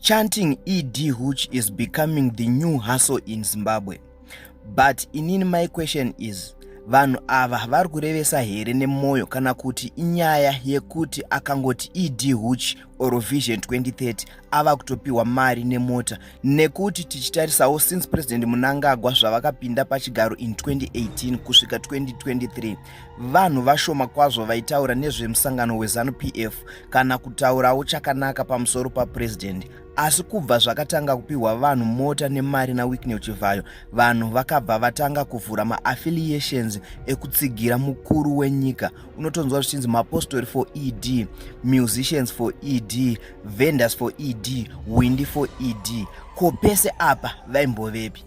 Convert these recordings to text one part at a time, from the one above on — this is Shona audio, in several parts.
Chanting ED Hooch is becoming the new hustle in Zimbabwe. But inini my question is vanhu ava vari kurevesa here nemwoyo kana kuti inyaya yekuti akangoti ED Hooch or Vision 2030 ava kutopiwa mari nemota nekuti tichitarisawo since President Munangagwa zvavakapinda pachigaro in 2018 kusvika 2023 vanhu vashoma kwazvo vaitaura nezvemusangano wezanu pf kana kutaurawo chakanaka pamusoro papurezidendi asi kubva zvakatanga kupiwa vanhu mota nemari nawickney chivhayo vanhu vakabva vatanga kuvhura maaffiliations ekutsigira mukuru wenyika unotonzwa zvichinzi mapostori for ed musicians for ed vendors for ed windi for ed ko pese apa vaimbovepi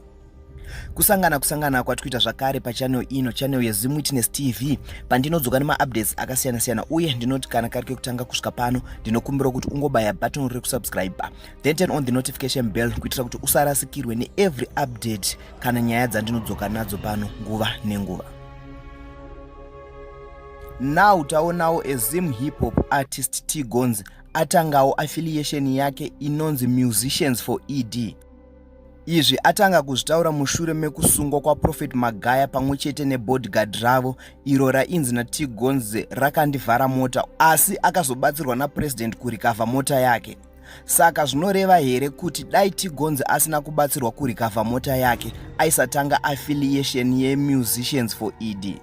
kusangana kusangana kwati kuita zvakare pachanel ino chanel yezim witness tv pandinodzoka nemaupdates akasiyana siyana uye ndinoti kana kari kekutanga kusvika pano ndinokumbira kuti ungobaya button rekusubscribe then turn on the notification bell kuitira kuti usarasikirwe neevery update kana nyaya dzandinodzoka nadzo pano nguva nenguva now taonawo ezim hip hop artist t gonzi atangawo affiliation yake inonzi musicians for ed Izvi atanga kuzvitaura mushure mekusungwa kwaProphet Magaya pamwe chete nebodyguard ravo iro rainzi naT Gonze rakandivhara mota asi akazobatsirwa naPresident kurikavha mota yake. Saka zvinoreva here kuti dai T Gonze asina kubatsirwa kurikavha mota yake aisatanga affiliation yeMusicians for ED?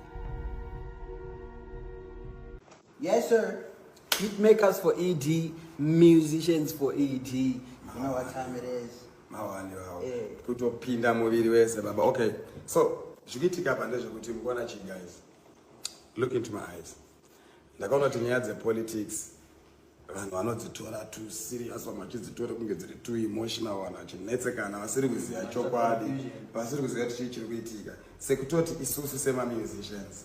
Yes sir. Hit makers for ED, musicians for ED. You know what time it is. Mawani wawo. Eh. Kutopinda muviri wese baba. Okay. So, zvikuitika apa ndezvekuti mukuona chi guys. Look into my eyes. Ndakaona kuti nyaya dzepolitics vanhu vanodzitora tu serious vamwe vachidzitora kunge dziri tu emotional vanhu vachinetsekana vasiri kuziva chokwadi vasiri kuziva kuti chii chiri kuitika sekutoti isusu semamusicians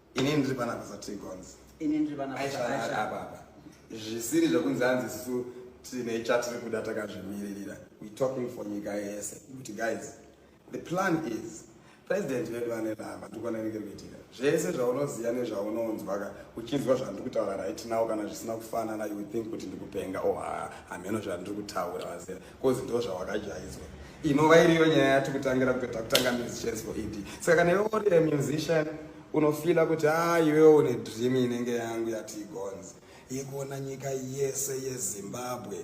ini ndiri pana basa trigons ini ndiri pana basa apa zvisiri zvekunzi hanzi sisu tine chatiri kuda takazvimiririra we talking for nyika yese kuti guys the plan is president vedu vane rava ndikwananenge kuitika zvese zvaunoziva nezvaunonzwaka uchinzwa zvandiri kutaura right now kana zvisina kufanana you think kuti ndikupenga o oh, hameno zvandiri kutaura vazera coz ndo zvawakajaidzwa inova iriyo nyaya yati kutangira kutoita kutanga musicians for ed saka kana iwe uri a musician unofila kuti a ah, iwewo une dream inenge yangu yati igonzi yekuona nyika yese yezimbabwe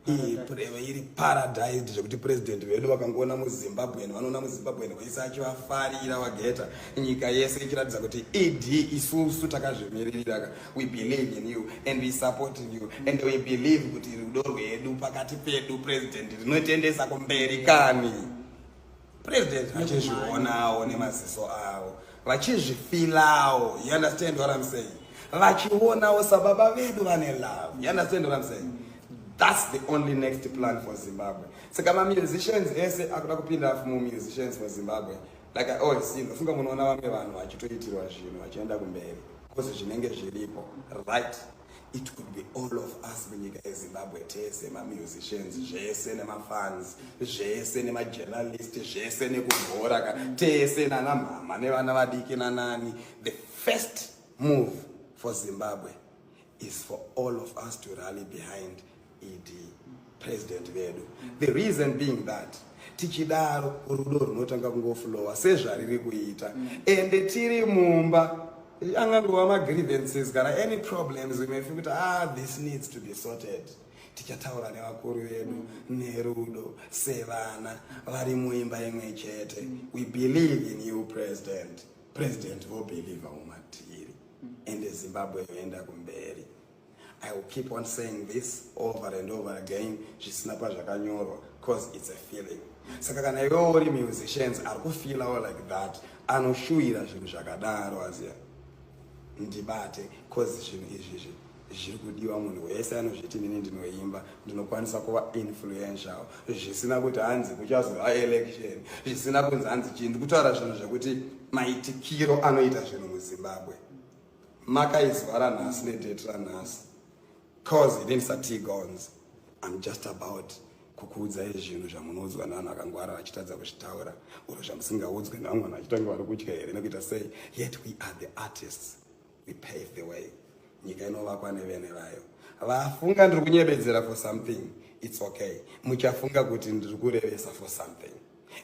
ipreve iri paradise zvekuti president vedu vakangoona muzimbabwen vanoona muzimbabwen wese achivafarira vageta nyika yese ichiratidza kuti ed isusu takazvimiririra we believe in you and we support in you and we believe kuti rudo rwedu pakati pedu president rinotiendesa kumberi kani president vachizvionawo nemaziso avo vachizvifilawo you understand what i'm saying vachionawo sababa vedu vane love you understand what i'm saying that's the only next plan for zimbabwe saka mamusicians ese akuda kupinda fumo musicians for zimbabwe like i always see ndofunga munoona vamwe vanhu vachitoitirwa zvinhu vachienda kumberi because zvinenge zviripo right it could be all of us munyika yezimbabwe tese mamusicians zvese nemafans zvese nemajournalist zvese nekubhora ka tese nana mhama nevana vadiki nanani the first move for zimbabwe is for all of us to rally behind ED president vedu the reason being that tichidaro rudo runotanga kungofulowa sezvariri kuita mm. ende tiri mumba angangova magrievances kana any problems we may feel kuti ah this needs to be sorted tichataura nevakuru vedu mm. nerudo sevana vari muimba imwe chete mm. we believe in you president president vobelieve umatiri ende zimbabwe yoenda kumberi I will keep on saying this over and over again zvisina pazvakanyorwa cause it's a feeling saka kana iwewo uri musicians ari kufeelawo like that anoshuwira zvinhu zvakadaro aziya ndibate cause zvinhu izvizvi zviri kudiwa munhu wese anozviti nini ndinoimba ndinokwanisa kuva influential zvisina kuti hanzi kuchazova election zvisina kunzi hanzi chii ndikutaura zvinhu zvekuti maitikiro anoita zvinhu muzimbabwe makaizwara nhasi nedate ranhasi cause it ain't satigons i'm just about kukuudzai zvinhu zvamunoudzwa nevanhu vakangwara vachitadza kuzvitaura or zvamusingaudzwe nevamwe vanhu vachitanga vari kutya here nekuita sei yet we are the artists we pave the way nyika inovakwa nevene vayo vafunga ndiri kunyebedzera for something it's okay muchafunga kuti ndiri kurevesa for something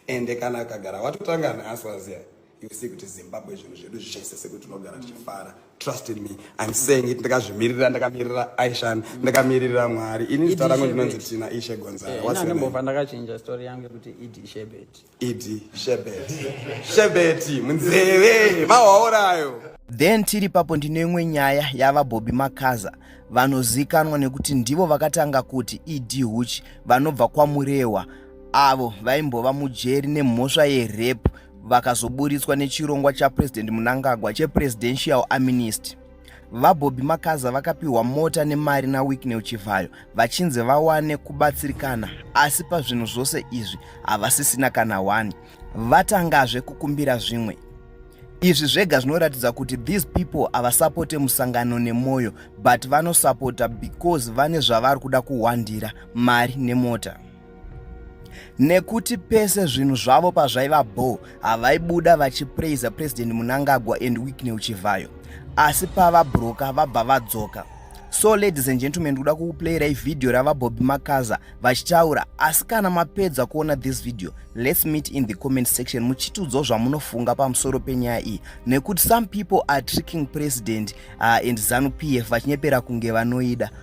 ende kana akagara watotanga neasi waziya you see kuti zimbabwe zvinhu zvedu zvichaisa sekuti tinogara tichifara trust in me im saying it ndakazvimirira ndakamirira aishan ndakamirira mwari ini zita rangu ndinonzi tina ishe gonzaraimbova eh, ndakachinja story yangu yekuti ed shebet ed shebet shebeti munzeve mawaorayo then tiri papo ndine imwe nyaya yava bobi makaza vanozikanwa nekuti ndivo vakatanga kuti ed huch vanobva kwamurewa avo vaimbova mujeri nemhosva yerape vakazoburitswa nechirongwa chapresident munangagwa chepresidential aminist vabobby makaza vakapiwa mota nemari nawicknel chivhayo vachinzi vawane kubatsirikana asi pazvinhu zvose izvi havasisina kana 1 vatangazve kukumbira zvimwe izvi zvega zvinoratidza kuti these people havasapote musangano nemwoyo but vanosapota because vane zvavari kuda kuhwandira mari nemota nekuti pese zvinhu zvavo pazvaiva bho havaibuda vachipraiza president munangagwa and wickney uchivhayo asi pavabroka vabva vadzoka so ladies and gentlemen kuda kukuplayirai vhidhiyo ravabobi makaza vachitaura asi kana mapedza kuona this video let's meet in the comment section muchitiudzwo zvamunofunga pamusoro penyaya iyi nekuti some people are tricking president uh, and zanu p f vachinyepera kunge vanoida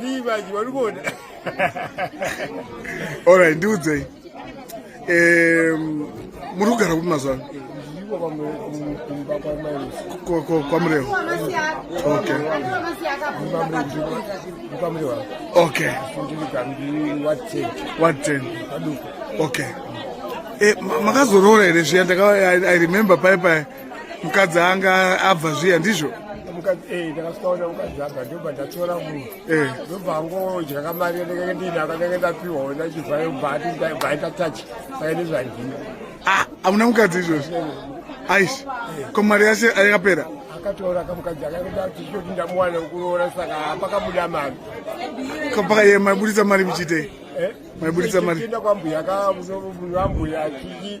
Vivaji varikuona. All right, ndiudzei. Um, muri kugara kupi mazuva ano? kwamurewo okay okay what ten okay eh, makazoroora here zviya i remember paye paye mukadzi anga abva zviya ndizvo eh, ndakasikaona mukadzi abva ndobva ndatora munhu eh. ndobva angodya kamari ndenge ndina kanenge ndapiwa ona chivhayo bhaita tachi saka nezvandina ah, amuna mukadzi izvozvi aisi eh. ko mari yase ayakapera akatora kamukadzi akaenda tichoti ndamuwana kuroora saka pakabuda mari kapakaye maiburitsa mari muchiitei maiburitsa mari tienda kwambuya kaambuya chii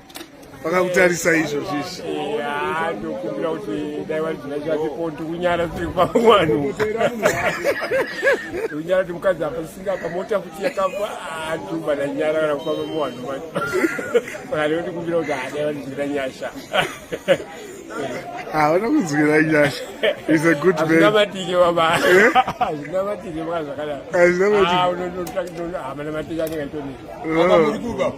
vakakutarisa izvo zvizvi ndokumbira kuti dai vari zvina zvatipondi kunyara tiri pamwanu kunyara kuti mukadzi apa singa pamota kuti yakafa atuba nanyara kana kufamba muwanhu saka ndinotikumbira kuti adai vari zvina nyasha hauna kunzwira nyasha is a good manazvinamatike baba zvinamatike maka zvakadaro hazvinamatike hamana matike anenge aitonika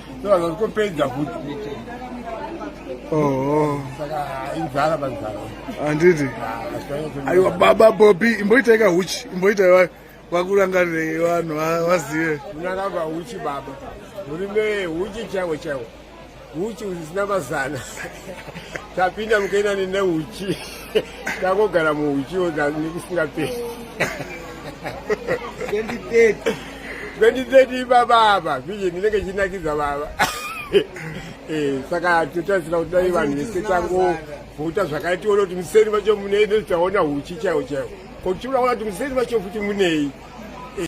Kupedza futi. Oh. Inzara panzara. Handiti. Aiwa baba Bobby imboita ika huchi imboita iwayo vakurangarirei vanhu vazive. Unakava huchi baba. Uri ne huchi chaiwo chaiwo. Huchi usina mazana. Tapinda mukaina nene huchi. ndakogara muuchiwo nekusingaperi 2030 ibaba apa vision ndinenge chinakidza baba eh, saka totarisira kuti dai vanhu vese tangovhota zvakare tione kuti museni vacho munei ndotaona huchi chaiwo chaiwo kotiunaona kuti museni vacho futi munei